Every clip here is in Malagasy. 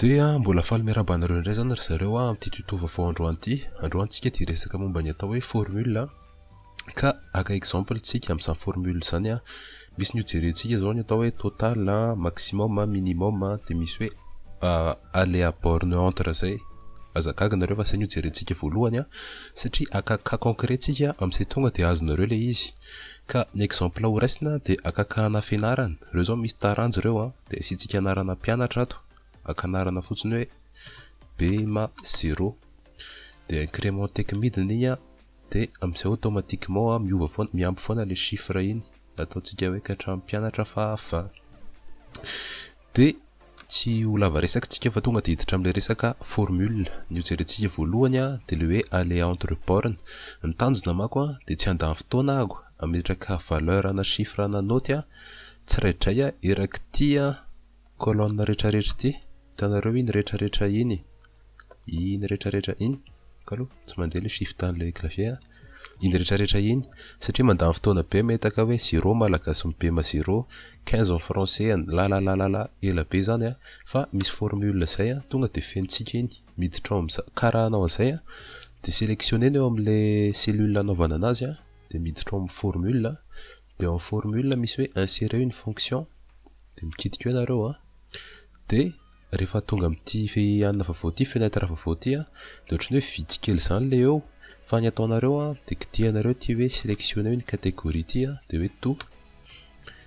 Dia mbola faly miarahaba anareo indray izany ry zareo amin'ity tuto vaovao androany ity. Androany isika dia hiresaka momba ny atao hoe formule ka haka exemple isika amin'izany formule izany Misy ny hojerentsika zao ny atao hoe total a, maximum a, minimum a, de misy hoe aller à borne entre zay. Aza gaga nareo fa zay ny hojerentsika voalohany a, satria aka cas concret tsika amzay tonga de azonareo le izy. Ka ny exemple ho raisina de aka cas ana fianarana, reo zao misy taranja reo a, de asiantsika anarana mpianatra ato, aka anarana fotsiny hoe BEMA zéro, de increment tec midiny iny a, De amzay automatiquement a miova foana, miampy foana le chiffre iny nataontsika hoe katram pianatra faha valo. De tsy ho lava resaka tsika fa tonga de hiditra amle resaka formule, ny ho jerentsika voalohany a de le hoe aller entre borne, ny tanjona mako a de tsy handany fotoana ahako ametraka valeur ana chiffre ana note a tsiraidray a erak'ity a colonne retraretra ity, hitanareo iny retraretra iny. Iny rehetra rehetra iny, kalo tsy mandeha le shift anle clavier a, iny rehetra rehetra iny satria mandany fotoana be metaka hoe zero malagasy mipema zero, quinze en français an lalalalala ela be zany a, fa misy formule zay a tonga de fenontsika iny, miditra ao amza, kara anao anzay a, de selectionner ny ao amle cellule anaovana anazy a, de miditra ao am formule a, dia ao amin'ny formule misy hoe insérer une fonction dia mikitika eo nareo a dia rehefa tonga amin'ity fehihana vaovao ity fenêtre vaovao ity a dia ohatran'ny hoe vitsy kely izany ilay eo fa ny ataonareo a dia kitihanareo ity hoe sélectionner une catégorie ity a dia hoe to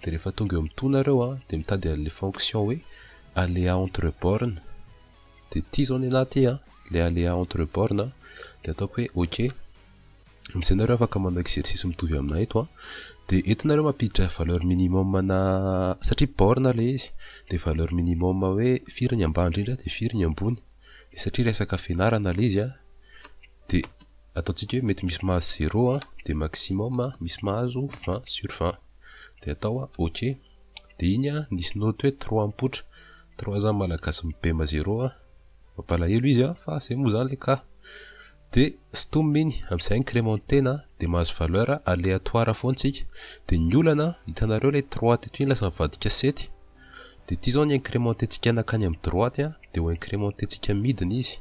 dia rehefa tonga eo amin'ny to nareo a dia mitady an'ilay fonction hoe aléa entre bornes dia ity izao ny anaty a ilay aléa entre bornes dia ataoko hoe ok Amin'izay nareo afaka manao exercice mitovy aminà eto a. Dia eto nareo mampiditra valeur minimum anà, satria borne ilay izy, dia valeur minimum hoe firy ny ambany indrindra dia firy ny ambony. Dia satria resaka fianarana ilay izy a, dia ataontsika hoe mety misy mahazo zéro a, dia maximum misy mahazo vingt sur vingt. Dia atao a, ok. Dia iny a, nisy note hoe trois mipoitra. Trois zany malagasy mibema zéro a. Mampalahelo izy a, fa izay moa izany ilay cas. De stom iny, amzay incrementena de mahazo valeur aleatoire foana tsika, de ny olana hitanareo le trois teto iny lasa mivadika sept, de ity zao ny incremententsika nakany am droite a, de ho incremententsika midina izy,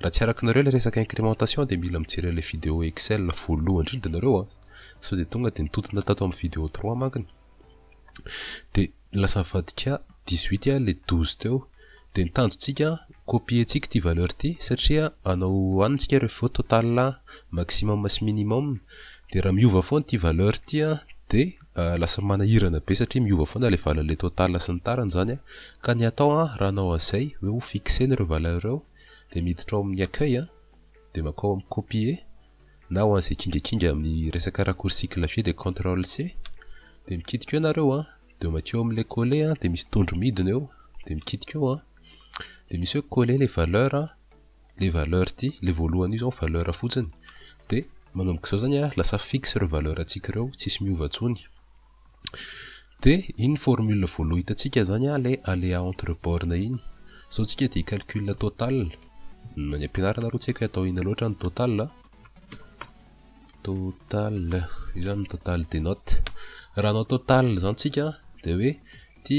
raha tsy arakinareo le resaka incrementation de mila mijery anle video excel voalohany indrindra nareo a, sao de tonga de nitontona tato am video trois mankony, de. Lasa avadika dix huit a le douze teo de ny tanjontsika copier tsika ity valeur ity satria anao any tsika revo total maximum sy minimum de raha miova foana ity valeur ity a de lasa manahirana be satria miova foana le valin le total sy ny tariny zany a ka ny atao a raha anao anzay hoe ho fixer ny reo valeur reo de miditra ao amin'ny accueil a de makao amin'ny copier na ho an'izay kindrakindraky amin'ny resaka raccourci clavier dia control C dia mikitika eo nareo an, dia makeo amin'ilay coller an, dia misy tondro midina eo, dia mikitika eo an, dia misy hoe coller les valeurs an, ilay valeur ity, ilay voalohany io izao valeur fotsiny, dia manomboka izao izany an, lasa fixe ireo valeur antsika ireo, tsisy miova intsony. De iny formule voaloha hitantsika zany an le aléa entre bornes iny. Zao tsika dia hi-calcul total. Any am-pianarana aloha tsy haiko hoe atao inona loatra ny total an. Total, io zany ny total des notes. Raha hanao total zany tsika dia hoe ity.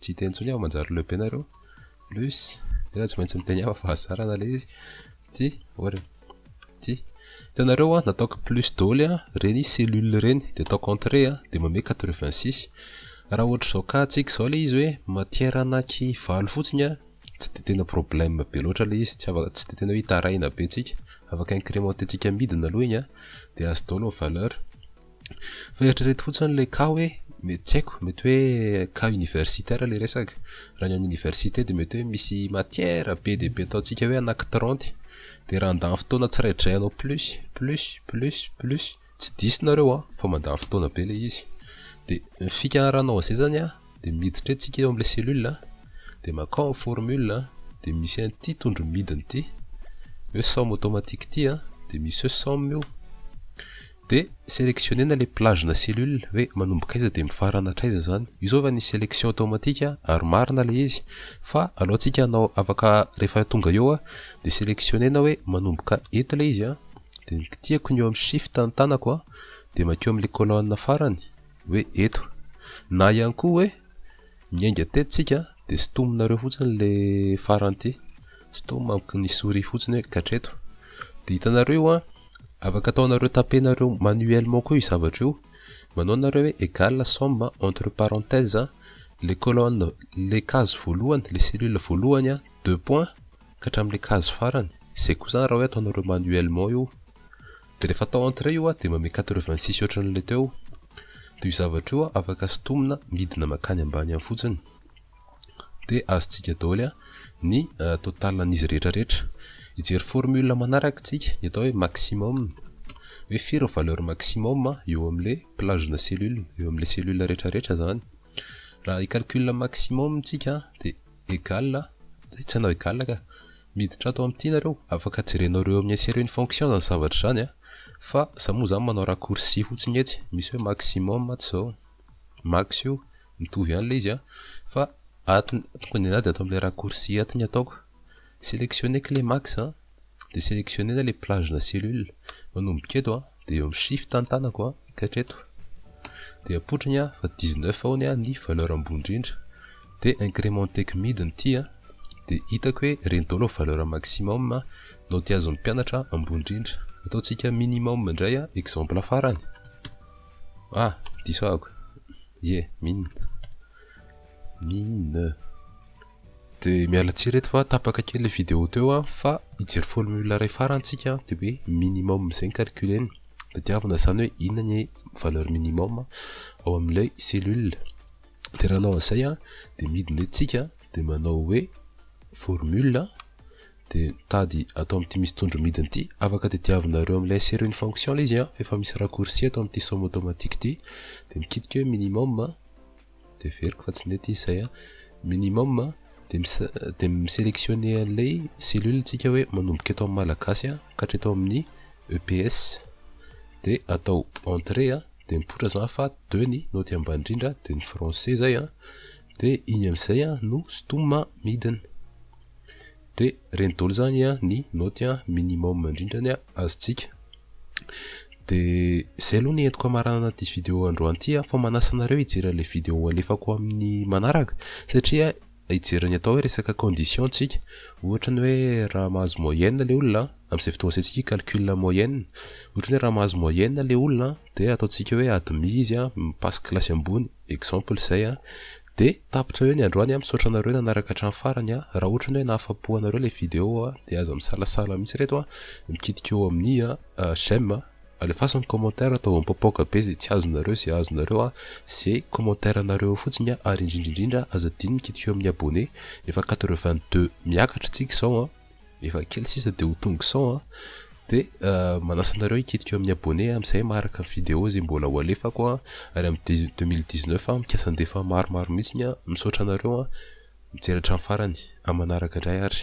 Tsy hita intsony aho manjary le ben nareo. Plus tena tsy maintsy miteny aho fa zarana le izy. Ty ory. Ty hitanareo a nataoko plus doly a reny cellule reny de ataoko entrée a de manome 86. Raha ohatra izao cas antsika izao le izy hoe matière anaky valo fotsiny a tsy de tena problème be loatra le izy tsy afaka tsy de tena hoe hitaraina be antsika afaka incrémenter antsika midina aloha igny a de azo daholo ny valeur. Fa eritrereto fotsiny ilay cas hoe mety tsy haiko, mety hoe cas universitaire ilay resaka. Raha ny amin'ny université dia mety hoe misy matière be dia be ataontsika hoe anakitiranty. Dia raha handany fotoana tsiraidray ianao plus, plus, plus, plus, tsy diso nareo an, fa mandany fotoana be ilay izy. Dia ny fikaharanao an'izay izany an, dia miditra eo tsika eo amin'ilay cellule an, dia makao ny formule an, dia misy an'ity tondro midina ity, hoe somme automatique ity an, dia misy hoe somme io. De selectionner-na le plage na cellule hoe manomboka aiza de mifarana hatraiza zany. Io zao efa nisy selection tao matika ary marina le izy fa alohantsika hanao afaka rehefa tonga eo a de selectionner-na hoe manomboka eto le izy a de ny kitihako ny eo amin'ny shift ny tanako a de makeo amin'le colonne farany hoe eto na ihany koa hoe miainga teto tsika de sintominareo fotsiny le farany ty sintomina amiko ny souris fotsiny hoe katreto de hitanareo io a Afaka ataonareo tapenareo manuellement koa io zavatra io, manao nareo hoe égale somme entre parenthèses le colonne le case voalohany le cellule voalohany a deux points ka hatramin'ilay case farany, izay koa izany raha hoe ataonareo manuellement io, dia rehefa atao entre io a dia manome quatre vingt six ohatran'ilay teo, dia io zavatra io afaka sintomina midina mankany ambany any fotsiny. dia azontsika daholo ny total an'izy rehetra rehetra. Hijery formule manaraka isika, ny atao hoe maximum. Hoe firy ny valeur maximum eo amin'ilay plage-na cellule, eo amin'ilay cellule rehetra rehetra izany. Raha hi-calcul maximum isika dia egal, tsy hanao egal ka, miditra ato amin'ity nareo, afaka jerenao ireo amin'ny insert une fonction izany zavatra izany fa izaho moa izany manao raccourci fotsiny etsy, misy hoe maximum ato izao. Max io, mitovy ihany ilay izy an! Fa ato, tokony anà dia ato amin'ilay raccourci ato ny ataoko. Sélectionner clé Max an! Dia sélectionner-na ilay plage-na cellule. Manomboka eto an! Dia eo amin'ny shift ny tanako an! Ka hatreto. Dia apoitra ny an! Fa 19 ao ny an! Ny valeur ambony indrindra. Dia incrementer-ko midiny ity an! Dia hitako hoe ireny daholo ny valeur maximum an! Note azon'ny mpianatra an! Ambony indrindra. Ataontsika minimum indray an! Exemple farany. Ah, diso ahako. Ye, min. Min. Dia miala tsiny reto fa tapaka kely ilay vidéo teo an, fa hijery formule iray farany tsika an, dia hoe minimum izay ny calcul-eny. Tadiavina izany hoe inona ny valeur minimum ao amin'ilay cellule. Dia raha hanao an'izay an, dia midina eto tsika, dia manao hoe formule, Dia mitady ato amin'ity misy tondro midina ity, afaka tadiavinareo amin'ilay insero une fonction ilay izy an, fa efa misy raccourci ato amin'ity somme automatique ity, dia mikitika hoe minimum, dia averiko fa tsy nety izy izay an, minimum, dia mi-selectionner an'ilay cellule tsika hoe manomboka eto amin'ny malagasy an ka hatreto amin'ny EPS, dia atao entrée an, dia mipoitra izany fa deux ny naoty ambany indrindra, dia ny français izay an, dia iny amin'izay a no stomma midina dia ireny daholo izany a ny naoty a minimum indrindra ny azontsika dia izay aloha ny entiko hamaranana ity video androany ity a fa manasa anareo hijery an'ilay video halefako amin'ny manaraka satria hijery ny atao hoe resaka condition ntsika ohatra ny hoe raha mahazo moyenne ilay olona amin'izay fotoana izay isika hi-calcul moyenne ohatra ny hoe raha mahazo moyenne ilay olona dia ataontsika hoe admis izy a mi-passe kilasy ambony exemple zay an! de tapitra eo ny androany an! misaotra anareo nanaraka hatramin'ny farany an! raha ohatrany hoe nahafapo anareo ilay video an! de aza misalasala mihitsy reto an! mikitika eo amin'ny j'aime an! alefaso ny commentaire ataovy mipaopaoka be izay tsy azonareo izay azonareo an! ze commentaire nareo eo fotsiny an! ary indrindra indrindra aza adino mikitika eo amin'ny abonné! efa quatre vingt deux miakatra tsika izao an! efa kely sisa de ho tonga cent an, de manasa anareo hikitika eo amin'ny abonné amin'izay maharaka ny vidéo izay mbola ho alefako an, ary amin'ny deux mille dix neuf aho mikasa handefa maromaro mihitsy an, misaotra anareo an, mijery hatramin'ny farany, amin'ny manaraka indray ary.